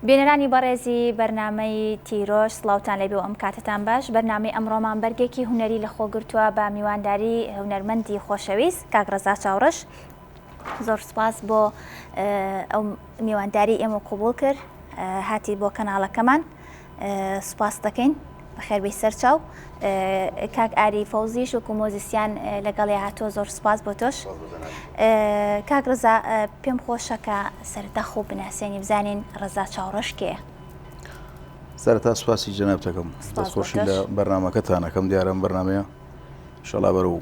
بینەرانی بەڕێزی بەرنمەی تیرۆش سلااوان لەبێ ئەم کاتتان باش بەرنامی ئەمڕۆمان بەرگێکی هوەری لە خۆگرتووە بە میوانداری هونەرمەندی خۆشەویست کاک ڕزا چاوڕش زۆر سپاس بۆ ئەو میوانداری ئێمە قوبول کرد هاتی بۆ کەناڵەکەمان سپاس دەکەین بەخێربی سەرچاو کاک ئاری فەوزیش و کومۆزیسیان لەگەڵی هاتۆ زۆر سپاس بۆ تۆش کاک ڕزا پێم خۆشەکە سەرتەخ و بناسێنی بزانین ڕزا چاوڕشکێ سەرتا سوپاسی جەنابتەکەم دەستخۆشی لە بەرنمەکەتانەکەم دیارم بەرنمەیە شەڵا بەرەوە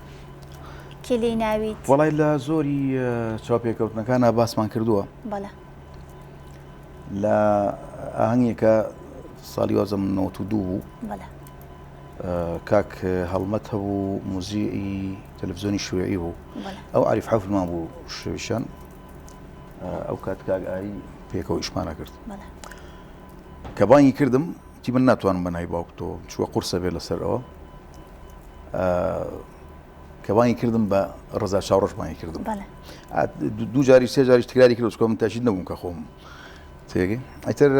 کێ لێی ناویت وەڵی لە زۆری چاوپێکەوتنەکانە باسمان کردووە بەڵێ لە ئاهنگێکە ساڵی وازە من نەوە و دوو بوو کاک هەڵمەت هەبوو موزیئی تەلەڤزیۆنی شوێعی بوو ئەو عریف حەفمان بوو شوێشان ئەو کات کاک ئاری پێکەوە ئیشمانە کرد کە بانگی کردم وتی من ناتوانم بە ناوی باوکتەوە چووە قورسە بێ لەسەر ئەوە کە بانگی کردم بە ڕزا چاڕۆژ بانگی کردم دوو جاری سێ جاری تکراری کرد چکۆم تاشید نەبووم کە خۆم تێگەی ئەتر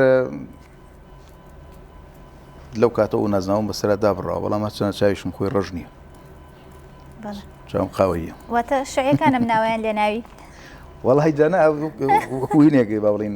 لەو کاتە و نازناوم بەسرا دابڕاوە بەڵام هەچەنە چاویشم خۆی ڕژ نییە چاوم قاوەیە واتە شعەکانم ناویان لێ ناوی وەڵی جانا هوینێکی باڵین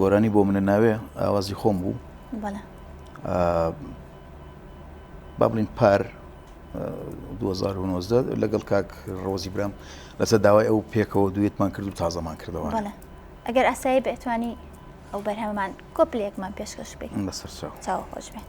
گۆرانی بۆ منە ناوێ ئاوازی خۆم بوو با بڵین پار 2009 لەگەڵ کاک ڕۆزی برام لەسەر داوای ئەو پێکەوە دوێتمان کرد و تازەمان کردەوە ئەگەر ئاسایی بەتوانی ئەو بەرهەمان کۆپلێکمان پێشکەش بێت بەسەر چاو خۆش بێت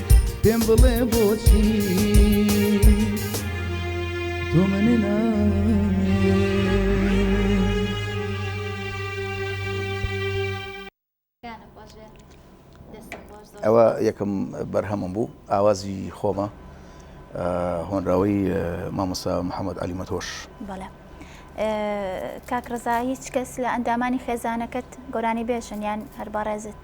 پێم بڵێ بۆچی تۆ منی ئەوە یەکەم بەرهەمم بوو ئاوازی خۆمە هۆنراوەی مامۆستا محەممەد علیمەتۆش بەڵێ کاکڕزا هیچ کەس لە ئەندامانی خێزانەکەت گۆرانی بێژن یان هەر بەڕێزت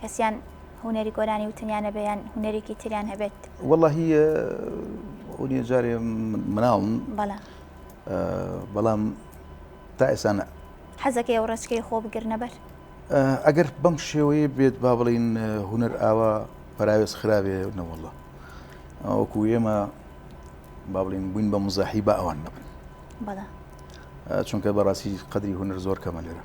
کەسیان هونەری گۆرانی وتنیان هەبێ یان هونەرێکی تریان هەبێت وەڵی ئەونیە جارێ مناڵم بەڵام تا ئێسانە حەزەکە ئەو ڕێچکەی خۆ بگرنەبەر ئەگەر بەم شێوەیە بێت با بڵین هونەر ئاوا پراوێز خراوێ نەوەڵە ئەوکو ئێمە با بڵین بووین بە مزاحی بە ئەوان نەبن چونکە بەڕاستی قدری هونەر زۆر کەمە لێرە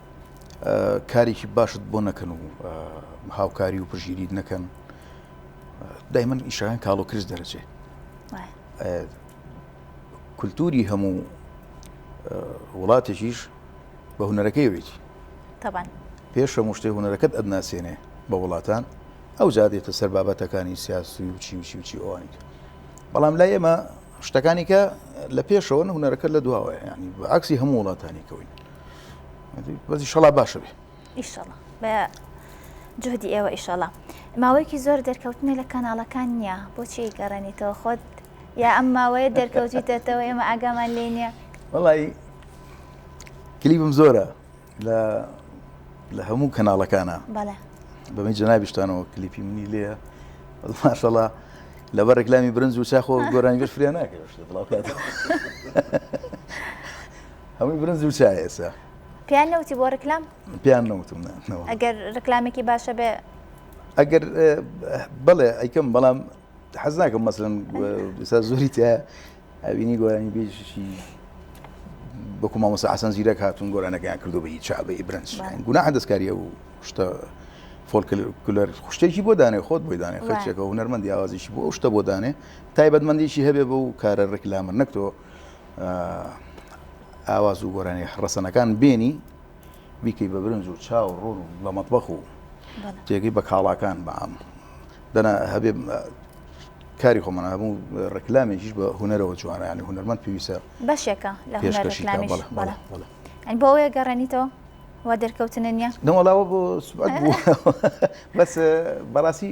کارێکی باشت بۆ نەکەن و هاوکاری و پژیریت نەکەن دای من ئیشەکان کاڵۆ کرس دەرەچێ کولتوری هەموو وڵاتێکیش بە هوەرەکەی وێتی پێش هەموو شتێ هوەرەکەت ئەدناسیێنێ بە وڵاتان ئەو زادێتە سەر بابەتەکانی سیاسی و چی وچی وچی ئەوانیت بەڵام لای ئێمە شتەکانیکە لە پێشەوە هوەرەکە لە دواوە ینی عکسی هەموو وڵاتانی کەوین بەس ئیشەڵا باشە بێ ئیشەڵا بە جهدی ئێوە ئیشەڵا ماوەیەکی زۆر دەرکەوتنە لە کەناڵەکان نییە بۆچی گەڕێنیتەوە خۆت یا ئەم ماوەیە دەرکەوتیتەتەوە ئێمە ئاگامان لێ نییە وڵی کلیبم زۆرە لە لە هەموو کەناڵەکانە بەمە جەنابیشتانەوە کلیپی منی لێە ماشەڵا لەبەر ڕێکلامی برنج و چاخۆ گۆرانی گەشت فریا ناکەێت هەمووی برنج و چای ئێستا پێیان نەوتی بۆ ڕکلام پێیان نەوتم نا، نەوە. ئەگەر ڕکلامێکی باشە بێ ئەگەر اه، بەڵێ ئەیکەم بەڵام حەز ناکەم مەسلەن ئێستا زۆری تیا ئەوینی گۆرانی بێژشی بەکو مامۆسا حەسەن زیرەک هاتون گۆرانەکەیان کردو بە هیچ چابە برنج بەڵێ. گوناحە دەستکاریە و شتە فۆلکلەر خوشتێکی بۆ دانێ خۆت بۆی دانێ وایە. خەچێکە هونەرمەندی ئاوازیشی بۆ ئەو شتە بۆ دانێ تایبەتمەندیشی هەبێ بەو کارە ڕکلامە نەک تۆ ئاواز و گۆرانی ڕەسەنەکان بێنی بیکەی بە برنج و چاو ڕۆن و لە مەطبەخ و تێگەی بە کاڵاکان بەام دەنا هەبێ کاری خۆمان هەبوو ڕێکلامێکیش بە هوەرەوە جوانیانی هوەرمەند پێویستە بەشێکە لە بۆ ئەوەیە گەڕێنیتەوە وا دەرکەوتنە نیە نەوەڵاوە بۆ بەس بەڕاستی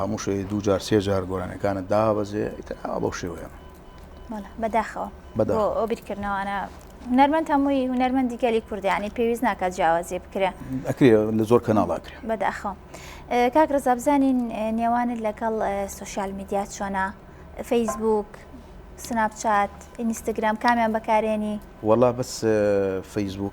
هەموو شەوێ دوو جار سێ جار گۆرانیەکانت دابەزێ ئیتر ئاوا بەو شێوەیە بەڵێ بەداخەوە بەدا بۆ ئەو بیرکردنەوانە هونەرمەند هەمووی هونەرمەندی گەلی کوردیانی پێویست ناکات جیاوازی بکرێ ئەکرێ لە زۆر کەناڵا کرێ بەداخەوە ئێ، کاک ڕزا بزانین ئێ، نێوانت لەگەڵ ئێ، سوسیال میدیا چۆنە فەیسبووک سناپچات ئینستاگرام کامیان بەکارێنی وەڵا بەس اه، فەیسبووک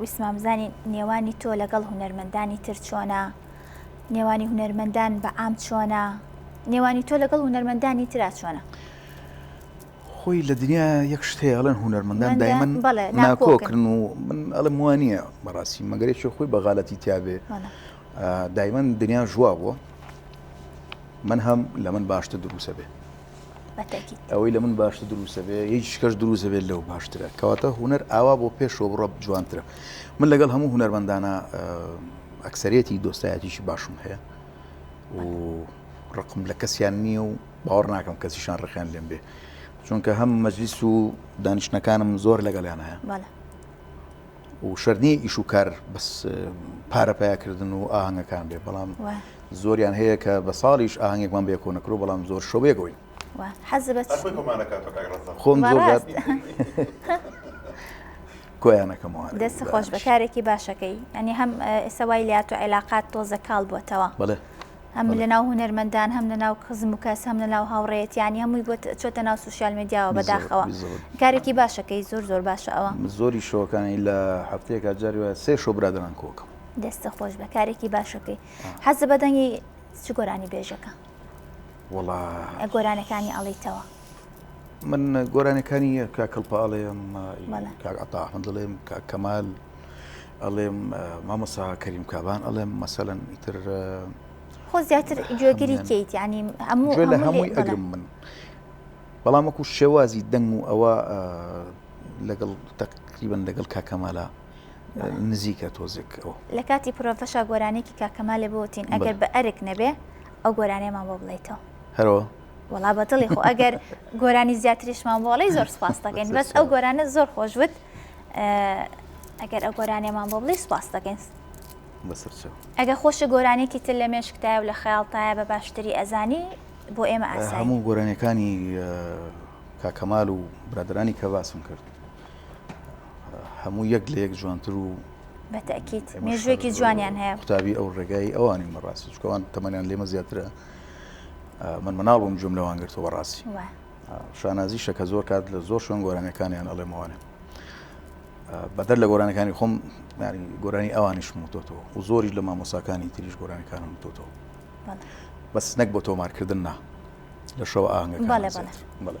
ویستمان بزانین نێوانی تۆ لەگەڵ هونەرمەندانی تر چۆنە نێوانی هونەرمەندان بە عام چۆنە نێوانی تۆ لەگەڵ هونەرمەندانی تررا چۆنە خۆی لە دنیا یەک شتێڵن هونەرمەندان دایمن ناکۆکردن و من ئەڵم وانە بەڕاستی مەگەرێکی خۆی بەغالەتی تیاابێ دایمن دنیا ژوا بووە من هەم لە من باشتە دروسە بێ ئەوەی لە من باشتر دروستە بێ هیچ شکەش دروستە بێت لەو باشترە کەواتە هوەر ئاوا بۆ پێشەوە بڕە جوانترە من لەگەڵ هەموو هوەرمەندانە ئەکسەرەتی دۆستایەتیشی باشم هەیە و ڕقم لە کەسیان نییە و باوەڕ ناکەم کەسیشان ڕخیان لێم بێ چونکە هەم مەجلیس و دانیشتەکانم زۆر لەگەڵیان هەیە و شەرت نییە ئیش و کار بەس پارە پیا کردن و ئاهەنگەکان بێ بەڵام زۆریان هەیە کە بە ساڵیش ئاهنگێکمان بێ کۆ نەکرو بەڵام زۆر شەوێ گۆین خۆم کۆیانەکەمەوە دەست خۆش بەکارێکی باشەکەی ئەنی هەم ئێستا وای لات و عێلاقات تۆزە کاڵ بووتەوە بڵێ هەم لە ناو هونەرمەندان هەم لە ناو خزم و کەس هەم لە ناو هاوڕێتیانی هەمووی بۆ چۆتە ناو سوسیال میدیاوە بەداخەوە کارێکی باشەکەی زۆر زۆر باشە ئەوە زۆری شۆکانی لە هەفتەیەکە جاری وایە سێ شۆ برادران کۆکم دەستە خۆش بە کارێکی باشەکەی حەز بەدەنگی چ گۆرانی بێژەکە وڵا گۆرانەکانی ئەڵیتەوە من گۆرانەکانی کاک کڵپە ئەڵێم کاک عەتا ئەحمەد ئەڵێم کاک کەمال ئەڵێم مامۆسا کەریم کابان ئەڵێم مەسەلەن ئیتر خۆ زیاتر گوێگری کەیت ینی هەموو لە هەمووی ئەگرم من بەڵام وەکو شێوازی دەنگ و ئەوە لەگەڵ تەقریبن لەگەڵ کاکەمالا نزیکە تۆزێک ئەو لە کاتی پرۆفەشا گۆرانێکی کاکەمالێ بۆتین ئەگەر بە ئەرک نەبێ ئەو گۆرانێمان بۆ بڵیتەوە هەرەوە وەڵا بەدڵی خۆ ئەگەر گۆرانی زیاتریشمان بۆڵی زۆر سپاس دەکەین بەس ئەو گۆرانە زۆر خۆش وت ئەگەر ئەو گۆرانێمان بۆ بڵی سپاس دەکەین ئەگە خۆشە گۆرانێکی تر لە مێشکتایە و لە خەیاڵتایە بە باشتری ئەزانی بۆ ئێمە ئاسا هەموو گۆرانەکانی کاکەمال و برادرانی کە باسم کرد هەموو یەک لە یەک جوانتر و بەتەکییت مێژوێکی جوانیان هەیە قوتابی ئەو ڕێگای ئەوانی مەڕاست چکەوان تەمەنیان لێمە زیاترە من مناڵ بووم جوم لەوان گرتو بەڕاستی شانازی شەکە زۆر کات لە زۆر شوێن گۆرانەکانیان ئەڵێمەوانێ بەدەر لە گۆرانەکانی خۆم گۆرانی ئەوانیشم وتۆتەوە و زۆریش لە مامۆساکانی تریش گۆرانەکانم وتۆتەوە بەس نەک بۆ تۆمارکردن نا لە شەو ئاهنگەکە بەڵێ بەڵێ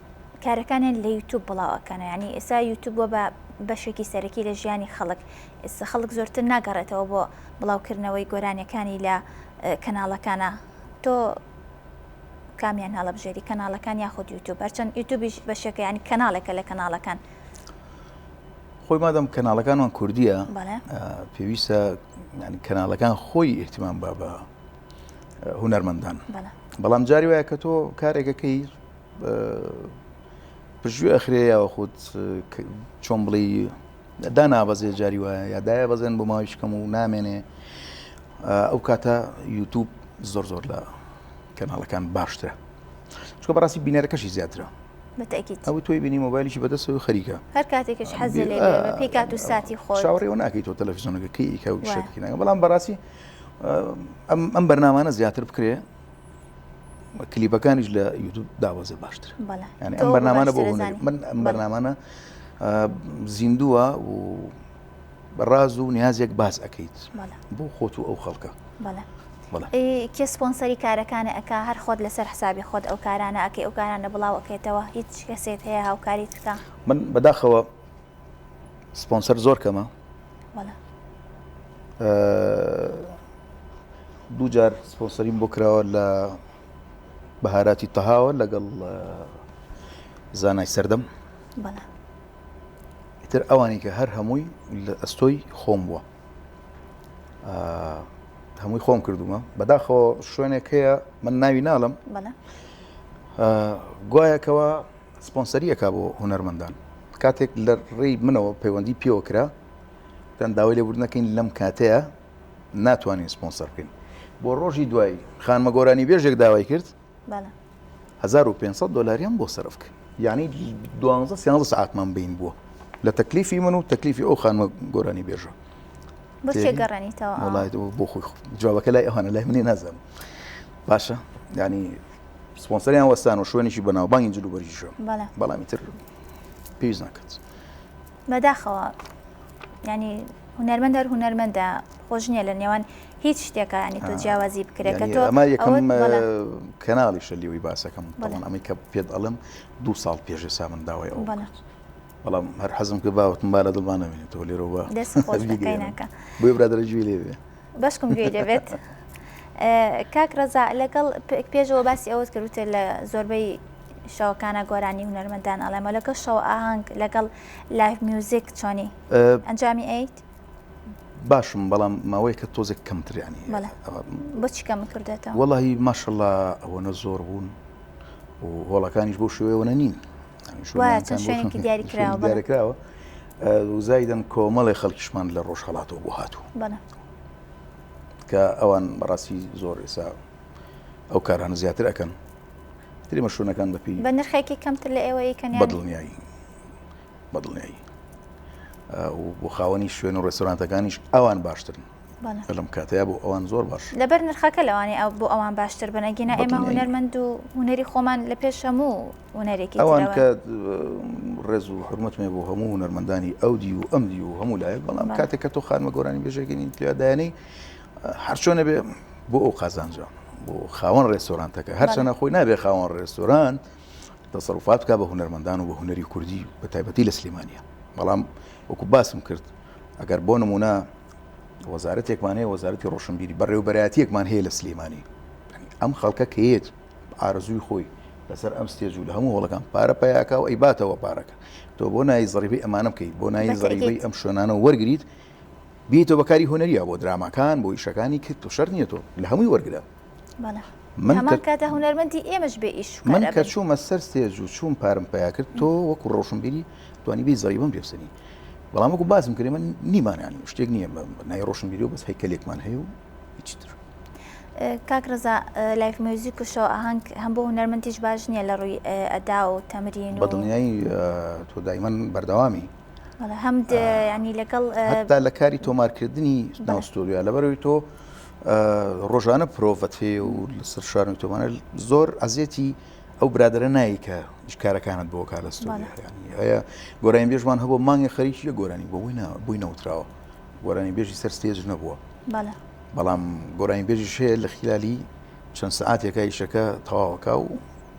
کارەکانیان لە یوتوب بڵاو ئەکەنەوە یعنی ئێستا یوتوب بۆ بە بەشێکی سەرەکی لە ژیانی خەڵک ئێستا خەڵک زۆرتر ناگەڕێتەوە بۆ بڵاوکردنەوەی گۆرانیەکانی لە کەناڵەکانە تۆ کامیان هەڵەبژێری کەناڵەکان یاخود یوتوب هەرچەند یوتوبیش بەشێکە ینی کەناڵێکە لە کەناڵەکان خۆی مادەم کەناڵەکانمان کوردیە پێویستە کەناڵەکان خۆی ئیحتیمان با بە هوەرمەندان بەڵام جاری وایە کە تۆ کارێکەکەی پژوێ ئەخرێ یاخود چۆن بڵی دا نابەزێ جاری وایە یا دایە بەزێن بۆ ماوەی شکەم و نامێنێ ئەو کاتە یوتوب زۆر زۆر لە کەناڵەکان باشترە چکە بەڕاستی بینەرەکەشی زیاترە ئەو تۆی بینی مۆبایلیشی بەدەست و خەریکە هەر کاتێکش حەز پێکات و ساتی خۆ چاوەڕێەوە ناکەیت تۆ تەلەفزیۆنەکەکەی کە شەکەکە بەڵام بەڕاستی ئەم بەرنامانە زیاتر بکرێ کلیپەکانیش لە یوتوب داوازە باشتر ئەم بەرنامانە بۆ من ئەم بەرنامانە زیندووە و ڕاز و نیازێک باز ئەەکەیت بۆ خۆت و ئەو خەڵکە کێ سپۆنسەری کارەکانە ئەک هەر خۆت لەسەر حسابی خۆت ئەو کارانە ئەکەی ئەو کارانە بڵاوەکەێتەوە هیچ کەسێت هەیە هاوکاری بکە من بەداخەوە سپۆنسەر زۆر کەمە دوو جار سپۆنسەریم بۆ کراوە لە بەهاراتی تەهاوە لەگەڵ زانای سەردەم تر ئەوانی کە هەر هەمووی لە ئەستۆی خۆم بووە هەمووی خۆم کردومە بەداخەوە شوێنێک هەیە من ناوی ناڵم گوایەکەوە سپۆنسەری ئەکا بۆ هونەرمەندان کاتێک لە ڕێی منەوە پەیوەندی پێوە کرا پێیان داوای لێبوردن دەکەین لەم کاتەیە ناتوانین سپۆنسەر بکەین بۆ ڕۆژی دوایی خانمە گۆرانی بێژێک داوای کرد بەڵێ 1500 دلاریان بۆ سرف کرد یعنی 12 سیانزە سعاتمان بین بووە لە تەکلیفی من و تەکلیفی ئەو خانمە گۆرانی بێژە بچێ گەڕێنیتەوە وڵایەوە بۆ خۆی خۆ جوابەکە لای ئەوانە لای منی نازانم باشە ینی سپۆنسەریان وەستان و شوێنێکی بەناوبانگی جلوبەرگیشە بەڵام ئیتر پێویست ناکات بەداخەوە ینی هونەرمەند هەر هونەرمەندە خۆش نییە لە نێوان هیچ شتێکە ینی تۆ جیاوازی بکرێت کە تۆ ئەمە یەکەم کەناڵی شەلیەوەی باسەکەم بەڵام ئەمەی کە پێت ئەڵم دو ساڵ پێشێ سامن داوای ئەو بەڵام هەر حەزم کە باوتم با لە دڵمانەوێنێتەوە لێرەوە دەست خۆش بۆ برادرە جوێ لێوێ بەشکم گوێی لێبێت کاک ڕەزا لەگەڵ پێشەوە باسی ئەوەت کردوتێت لە زۆربەی شەوەکانە گۆرانی هونەرمەندان ئەڵێمە لەگەڵ شەو ئاهنگ لەگەڵ لایف میوزیک چۆنی ئەنجامی ئەیت باشم بەڵام ماوەی کە تۆزێک کەمتریانی بچی کەم کردێتەوە وڵی ماشەڵا ئەوەنە زۆر بوون و هۆڵەکانیش بۆ شوێوەنە نین چەند شوێنێکی دیاری کراوە دیارکراوە وزایدن کۆمەڵی خەڵکیشمان لە ڕۆژهڵاتەوە بۆ هاتوو کە ئەوان بەڕاستی زۆر ئێسا ئەو کارانە زیاتر ئەەکەن تری مەشوونەکان بەپی بە نرخێکی کەمتر لە ئێوە یکەن بەدڵنیایی بەدڵنیایی بۆ خاوەنی شوێن و ڕێستۆرانتەکانیش ئەوان باشترن لەم کاتەیە بۆ ئەوان زۆر باش لەبەر نرخەکە لەوانی ئەو بۆ ئەوان باشتر بن ئەگینا ئێمە هوەرمەند و هوەری خۆمان لە پێش هەموو هوەرێکی ئەوان کە ڕێز و حرمەتمێ بۆ هەموو هوەرمەندانی ئەو دی و ئەم دی و هەموو لایەک بەڵام کاتێک کە تۆ خانمە گۆرانی بێژێکەنی تیادایانی هەرچۆنە بێ بۆ ئەو قازانجە بۆ خاوەن ڕێستۆرانتەکە هەرچەنە خۆی نابێ خاوەن ڕێستۆران دەسەڵفات بکە بە هوەرمەندان و بە هوەری کوردی بە تایبەتی لە سلێمانە بەڵام وەکو باسم کرد ئەگەر بۆ نمونە وەزارەتێکمان هەیە وەزارەتی ڕۆشنبیری بەڕێوبەراتیەکمان هەیە لە سلێمانی ئەم خەڵکە کەیت ئارزووی خۆی لەسەر ئەم ستێج و لە هەموو هەڵەکان پارە پیاکە و ئەی باتەوە پارەکە تۆ بۆ نایی زڕیبی ئەمانە بکەیت بۆ نایی زڕیبی ئەم شوێنانە وەرگیت بیتەوە بەکاری هۆنەریە بۆ دراماکان بۆ یشەکانی کرد و شەر نیە تۆ لە هەمووی وەرگە من کە چوومە سەر ستێج و چوون پارم پیا کرد تۆ وەکو ڕۆشن بیری توانی بی زەوی بم پێسەنی بەڵام وەکو باسم کرێ من نیمانانی شتێک نییە نای ڕۆشن بیری و بەس هەیکەلێکمان هەیە و هیچتر کاک ڕزا لایف میوزیک و شەو ئاهنگ هەم بۆ هونەرمەندیش باش نییە لە ڕووی ئەدا و تەمرین بە دڵنیایی تۆ دایمەن بەردەوامی هەم ینی لەگەڵ لە کاری تۆمارکردنی ناوستۆریا لەبەرەوەی تۆ ڕۆژانە پرۆڤەت هەیە و لەسەر شار و تۆمانە زۆر ئەزیەتی ئەو برادرە نایی کە شکارەکانت بۆ کا لە هەیە گۆرانی بێژمان هەبوو مانگی خەریکی لە گۆرانی بۆ بووینە بووی نەوتراوە گۆرانی بێژی سەر ستێج نەبووە بەڵام گۆرانی بێژی شەیە لە خلالی چەند سعاتێکە یشەکە تەواوەکە و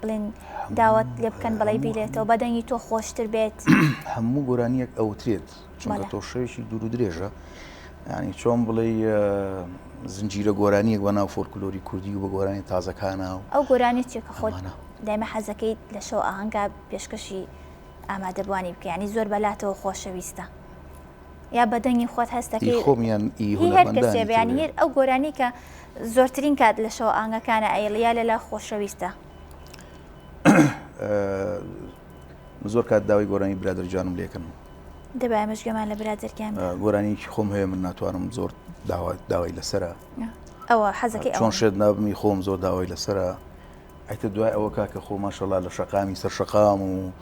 بڵێن داوەت لێ بکەن بڵێ بیلێتەوە بە دەنگی تۆ خۆشتر بێت هەموو گۆرانیەک ئەوترێت چونکە تۆ شەوێکی دوور و درێژە ینی چۆن بڵێ زنجیرە گۆرانیەک بە ناو فۆلکلۆری کوردی و بە گۆرانی تازەکانە و ئەو گۆرانی چێکە خۆمانە دایمە حەزەکەیت لە شەو ئاهنگا پێشکەشی ئامادەبوانی بکەیانی زۆر بەلاتەوە خۆشەویستە یا بە دەنگی خۆت هەست دەکەی هی خۆم یان هی هی هەر کەسێ هونەرمەندانی بێ تر یانی بێ هەر ئەو گۆرانی کە زۆرترین کات لە شەوە ئاهەنگەکانە ئەیڵی یا لە لا خۆشەویستە من زۆر کات داوای گۆرانی برادەر گیانم لێ کەن دەبای ئێمەش گوێمان لە برادەر گیان بێ. گۆرانیکی خۆم هەیە من ناتوانم زۆر داوا داوای لەسرە ئەوە حەزەکەی ئەوە چۆن شێت نابمی خۆم زۆر داوای لەسرە ئیتر دوای ئەوە کاکە خۆ ماشەڵا لە شەقامی سەر شەقام و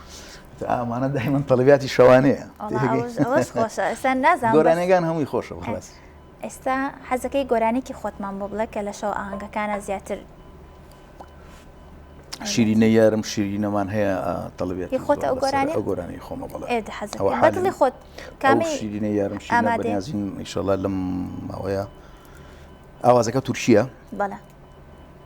ئامانە دایمە تەلبیاتی شەوانەیە گۆرانەکان هەمووی خۆشە بەڵاس ئێستا حەزەکەی گۆرانێکی خۆتمان بۆ بڵێ کە لە شەو ئاهنگەکانە زیاتر شیرینە یارم شیرینەمان هەیە تەڵبێت خۆت ئەو گۆرانی ئەو گۆرانی خۆمە بڵێ حەزڵی خۆت کامی شیرینە یارم شیرینازین ئیشەڵا لەم ماوەیە ئاوازەکە تورکیە بەڵە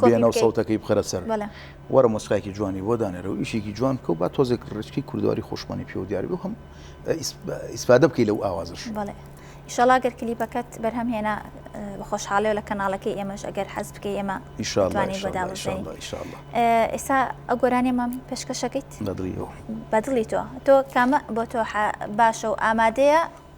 بێنە و سەوتەکەی بخەرە سەر وەرە مۆسکایکی جوانی بۆ دانێرە و ئیشێکی جوان بکە و با تۆزێک ڕچکی کوردواری خۆشمانی پێوە دیار بێ هەم ئیسپادە بکەی لەو ئاوازش ئیشەڵا گەر کلیپەکەت بەرهەم هێنا بە خۆشحاڵەوە لە کەناڵەکەی ئێمەش ئەگەر حەز بکەی ئێمە ئێستا ئە گۆرانێمان پێشکەشەکەیت بەدڵی تۆ تۆ کامە بۆ تۆ باشە و ئامادەیە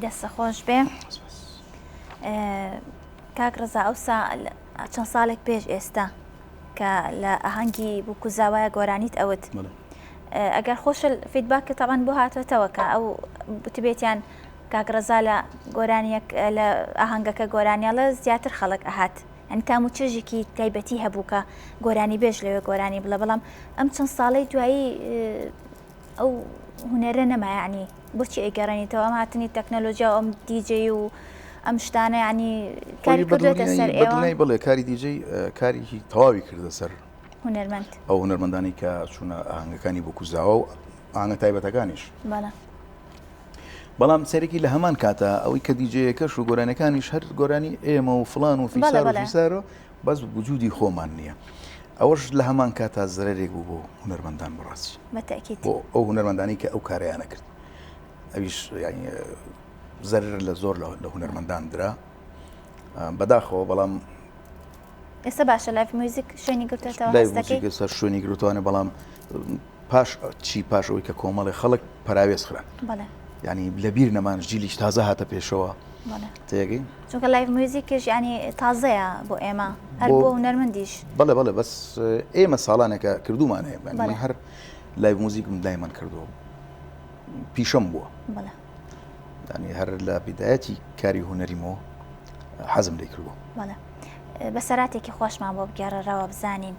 دەستە خۆش بێ کاک ڕزا ئەوسا چەند ساڵێک پێش ئێستا کە لە ئاهەنگی بووکوزاوایە گۆرانیت ئەوت ئەگەر خۆش فیدباک کە تاوان بۆ هاتوێتەوە کە ئەو بتبێتیان کاک ڕزا لە گۆرانیەک لە ئاهەنگەکە گۆرانیاڵە زیاتر خەڵک ئەهات ئەنی تام و چێژێکی تایبەتی هەبووکە گۆرانی بێژ لەوێ گۆرانی بڵە بەڵام ئەم چەند ساڵەی دوایی ئەو هونەرە نەما یانی بۆچی ئەیگەڕێنیتەوە ئەم هاتنی تەکنەلۆجیا و ئەم دیجەی و ئەم شتانە ینی کاری کردێتە سەر ئێوەی بڵێ کاری دیجەی کاریی تەواوی کردە سەر هونەرمەند ئەو هونەرمەندانی کە چوونە ئاهنگەکانی بۆ کوزاوە و ئاهنگە تایبەتەکانیش بەڵام سەرێکی لە هەمان کاتە ئەوەی کە دیجەیەکەش و گۆرانەکانیش هەر گۆرانی ئێمە و فلان و فیسار و فیسارۆ بەس وجودی خۆمان نییە ئەوەش لە هەمان کاتا زەرێک بوو بۆ هونەرمەندان بڕاستی بەتەکیت بۆ ئەو هونەرمەندانی کە ئەو کارەیانە کرد ئەویش زەر لە زۆر لە هونەرمەندان درا بەداخەوە بەڵام ئێستا باشە لایف میوزیک شوێنی گرتێتەوە شوێنی گرتوانە بەڵام پاش چی پاش ئەوی کە کۆمەڵی خەڵک پراوێز خران ینی لەبیر نەمان جیلیش تازە هاتە پێشەوە تێگەی چونکە لایف موزیکش ینی تازەیە بۆ ئێمە هەر بۆ نەرمەندیش بەڵێ بەڵێ بەس ئێمە ساڵانێکە کردومان هەیە هەر لای موزیکم دایمان کردووە پیشەم بووە دانی هەر لە بدایەتی کاری هوەریمەوە حەزم لێ کردووە بەسەراتێکی خۆشمان بۆ بگەڕەرەوە بزانین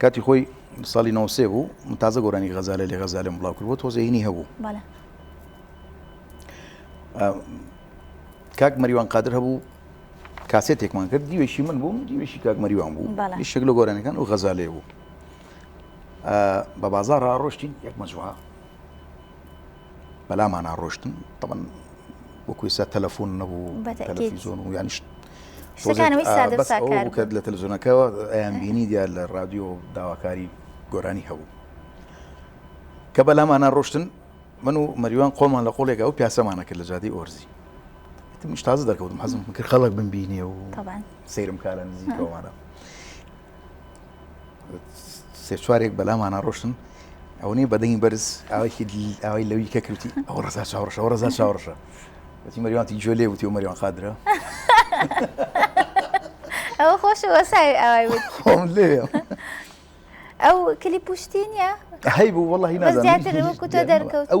کاتی خۆی ساڵی نووسێ بوو تازە گۆرانی غەزالە لە غەزالم بڵاو کرد بۆ تۆزێنی هەبوو کاک مەریوان قادر هەبوو کاسێتێکمان کرد دیوێکی من بووم دیوێکی کاک مەریوان بوو شک لە گۆرانەکان و غەزالێ بوو بە بازارڕا ڕۆشتین یەک مەجوها بەلامانا ڕۆشتن تەبەن وەکو ئێستا تەلەفۆن نەبوو تەلەفیزۆن و یانیش کرد لە تەلزۆنەکەەوە ئەیان بینی دیار لە رادیۆ داواکاری گۆرانی هەبوو کە بەلامانە ڕۆشتن من و مەریوان قۆمان لە قۆڵێکا و پیاسەمانە کرد لە جادی ئۆرزی تازە دەکەوتم حەزم کرد خەڵک بمبینێ و سەیرم کارە نزیکەوەمانە سێ چوارێک بەلامانە ڕۆشتن ئەوەی بەدەنگی بەرز ئاوێکی ئەوەی لەوی کە کەوتی ئەو ڕزا چاوڕشە ئەو ڕزا چاوڕشە بەتی مەریوانتی جۆ لێ وتی و مەریوان خادرە ئەو خۆش وەسای ئەوای خۆم لێ ئەو کلی پوشتینە هەی بوو وڵی نازانتر دەرکەوت ئەو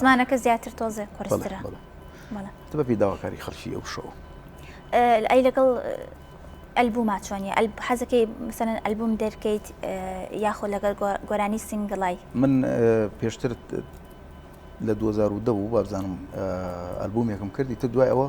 زمانەکە زیاتر تۆزێ قرسرە بەپی داواکاری خەڵکی ئەو شەو ئەی لەگەڵ ئەلبووما چۆنیە حەزەکەی مثلەن ئەلبووم دەرکەیت یاخۆ لەگەر گۆرانی سنگڵای من پێشتر لە 2010 بوو بابزانم ئەلبوومێکم کردی تر دوای ئەوە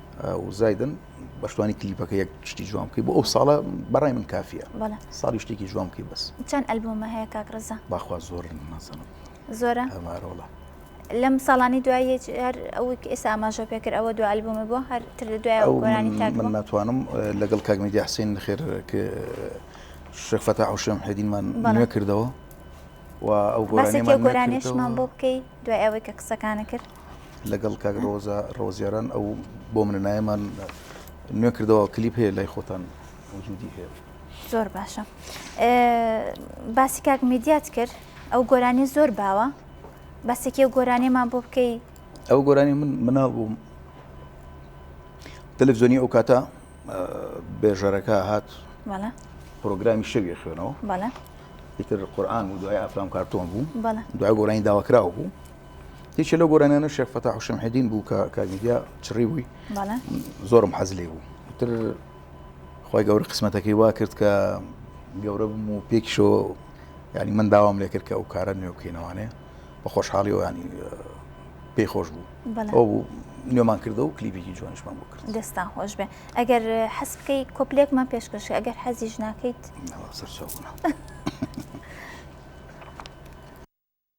و زایدن بەشتوانی کلیپەکە یەک شتی جوان بکەی بۆ ئەو ساڵە بەڕای من کافیە ساڵی شتێکی جوان بکەی بەس چەند ئەلبومە هەیە کاکڕزە باخوا زۆر نازانم زۆرە هەمارۆڵە لەم ساڵانی دوای هەر ئەو ئێستا ئاماژە پێکرد ئەوە دو ئەلبومە بۆ هەر تر لە دوای ئەوگۆرانی تاک من ناتوانم لەگەڵ کاگمیدی حسین خێر شەفەتا حوشێم حەدینمان نوێ کردەوە و ئەو گۆرانیمان بۆ بکەی دوای ئەوەی کە قسەکانە کرد لەگەڵ کاک ڕۆزە ڕۆزیاران ئەو بۆ منە نایەمان نوێ کردەوە کلیپ هەیە لای خۆتان وجودی هەیە زۆر باشە باسی کاک میدیات کرد ئەو گۆرانی زۆر باوە بەسێکی و گۆرانێمان بۆ بکەی ئەو گۆرانی من مناڵ بووم تەلەڤزیۆنی ئەو کاتە بێژەرەکە هات پرۆگرامی شەوی خوێنەوە ئیتر قورآان و دوای ئافرام کارتۆن بوو دوای گۆرانی داواکراوە بوو یەکێ لەو گۆرانیانە شێخ فەتاح شەمحەدین بوو کە کاک میدیا چڕی بووی بەڵێ زۆرم حەز لێ بوو تر خی گەورە قسمەتەکەی وا کرد کە گەورە بم و پێکیشۆ ینی من داوام لێ کرد کە ئەو کارە نوێ بکەینەوانێ بە خۆشحاڵی و ینی پێی خۆش بوو بەڵێ. ئەو بوو نوێمان کردە و کلیپێکی جوانیشمان بۆ کرد دەستان خۆش بێ ئەگەر حەز بکەی کۆپلێکمان پێشکەش ئەگەر حەزیش ناکەیت ناوە سەرچاوە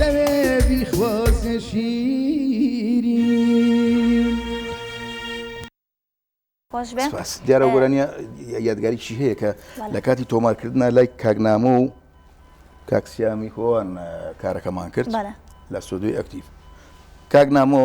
لەوێ بیخوازە شیرین. خۆشبێ سپاس دیارە ئە، گۆرانیە یادگاریی هەیە کە بەڵێ. لە کاتی تۆمارکردنا لای کاک نامۆ و کاک سیامی خۆان کارەکەمان کرد بەڵێ. لە ستۆدیۆی ئەکتیڤ کاک نامۆ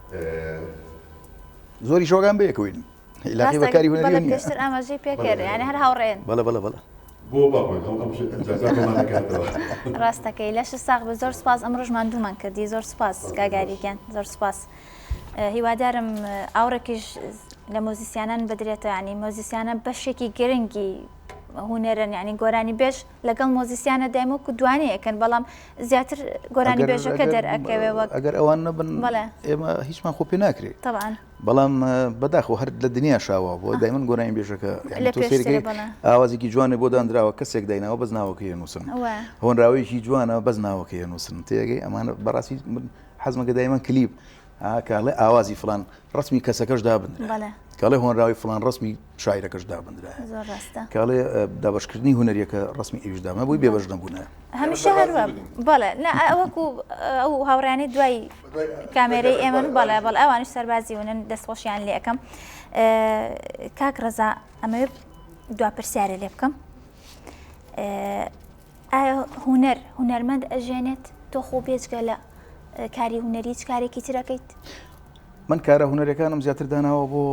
زۆری شۆگان بەیەکوین لاقی بەکاری هونەری پێشتر ئاماژەی پێکرد یعنی هەر هاوڕێن بەڵە بەڵە بەڵە ڕاستەکەی لەش ساغ بە زۆر سپاس ئەم ڕژمان دوومان کردی زۆر سپاس گاگاریگەن زۆر سپاس هیوادارم ئاوڕێکیش لە مۆزیسیانان بدرێتەوە ینی مۆزیسیانە بەشێکی گرنگی هوونەرن ینی گۆرانی بێش لەگەڵ مۆزیسیانە دایم وەکو دوانێ ئەکەن بەڵام زیاتر گۆرانی بێژەکە دەرئەکەوێ وەک ئەگەر ئەوان نەبن ئێمە هیچمان خۆ پێ ناکرێت طبعاً بەڵام بەداخۆ هەر لە دنیا شاوە بۆ دایمن گۆرانی بێژەکە سێرگەی ئاوازێکی جوانێ بۆ دانراوە کەسێک دایناوە بەس ناوەکەی نووسن هۆنراوەیەکی جوانە بەس ناوەکەی نووسن تێگەی ئەمانە بەڕاستی حەزمەکە دایمە کلیپ ها کە ئەڵێ ئاوازی فڵان ڕسمی کەسەکەش دابنرا بەڵێ کە ئەڵێ هۆنراوەی فڵان ڕسمی شاعیرەکەش دابنرایە زۆر ڕاستە کە ئەڵێ اه، دابەشکردنی هونەریەکە ڕسمی ئەویش دابنرا بۆی بێبەش نەبوونە هەمیشە بەڕاستی هەروە بگرین. بەڵێ نا ئە- ئەوەکو اه، ئەو هاوڕیانی دوای دوای- کامێرەی دوای- ئێمەن بەڵێ بەڵێ ئەوانش سەربازی ونن دەست خۆشیان لێ ئەکەم اه، کاک ڕەزا ئەمەوێ دوا پرسیارێ لێ بکەم اه، ئایا هونەر هونەرمەند ئەژێنێت تۆ خۆ بێجگە لە کاری هونەری هیچ کارێکی ترەکەیت من کارە هونەرەکانم زیاتر داناوە بۆ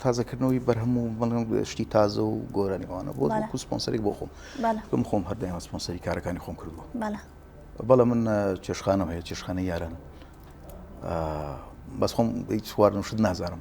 تازەکردنەوەی بەرهەم و بەڵم شتی تازە و گۆرانیوانە بۆ سپۆنسەری بۆ خۆم بم خۆم هەردەیان سپۆنسەری کارەکانی خۆم کردووە بەڵە من چێشخانەوە هەیە چێشخانە یاران بەس خۆم هیچ چوارم شت نازانم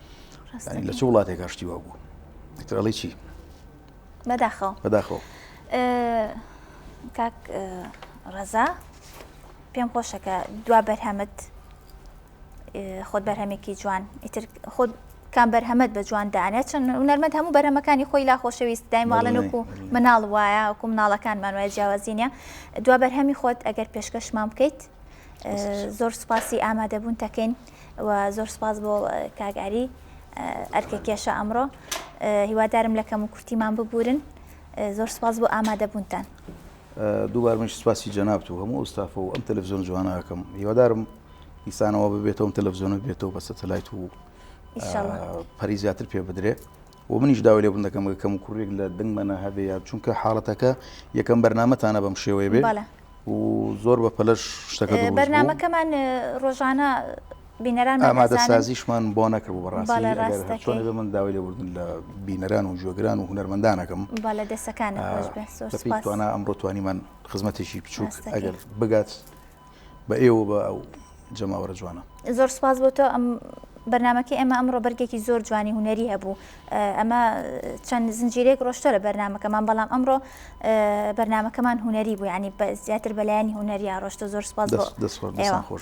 لە چ وڵاتێکا شتی وا بوو دکتۆرڵی چی بەداخەوە بەداخەوە کاک ڕەزا پێم خۆشەکە دوا بەرهەمت خۆت بەرهەمێکی جوان ئیتر خۆت کام بەرهەمەت بە جوان دانێت چون هونەرمەند هەموو بەرەمەکانی خۆی لا خۆشەویست دایماڵەنکو مناڵ وایە وکو مناڵەکانمان وایە جیاوازینە دوا بەرهەمی خۆت ئەگەر پێشکەشمان بکەیت زۆر سوپاسی ئامادەبوون تەکەین وە زۆر سپاس بۆ کاک ئاری ئەرکە کێشە ئەمڕۆ هیوادارم لە کەم و کورتیمان ببورن زۆر سپاس بۆ ئامادە بوونتان دووبار منش سپاسی جەنابت و هەموو ئەوستافە و ئەم تەلەڤزیۆن جوانەکەم هیوادارم ئیسانەوە ببێتەوەم تەلەڤزیۆنە بێتەوە بە سەتەلایت و پەری زیاتر پێ بدرێت وە منیش داوای لێبوردن دەکەم کە کەموکوڕیەک لە دەنگمەنا هەبێ یان چونکە حاڵەتەکە یەکەم بەرنمەتانە بەم شێوەیە بێ بەڵێ و زۆر بە پەلەش شتەکە دروست بوو. بەرنمەکەمان ڕۆژانە بینەران بە ئامادە بەزانن. سازیشمان بۆ نەکردبوو بەڵێ بەڕاستی ئەگەر ڕاست هەر دەکەی. چۆنێ بێ من داوای لێبوردن لە بینەران و جوێگران و هونەرمەندان ئەکەم بەڵێ دەسەکانت خۆش بێ زۆر بە پێی سوپاس توانا ئەمڕۆ توانیمان خزمەتێکی بچووک ڕاستەکەی. ئەگەر بگات بە ئێوە و بە ئەو جەماوەرە جوانە. زۆر سوپاس بۆ تۆ ئەم بەرنامەکەی ئێمە ئەمڕۆ بەرگێکی زۆر جوانی هونەری هەبوو ئەمە چەند زنجیرەیەک ڕۆشتە لە بەرنمەکەمان بەڵام ئەمڕۆ بەرنمەکەمان هونەری بوو ینی بە زیاتر بەلایانی هونەریا ڕۆشتە زۆر سپاس خۆش.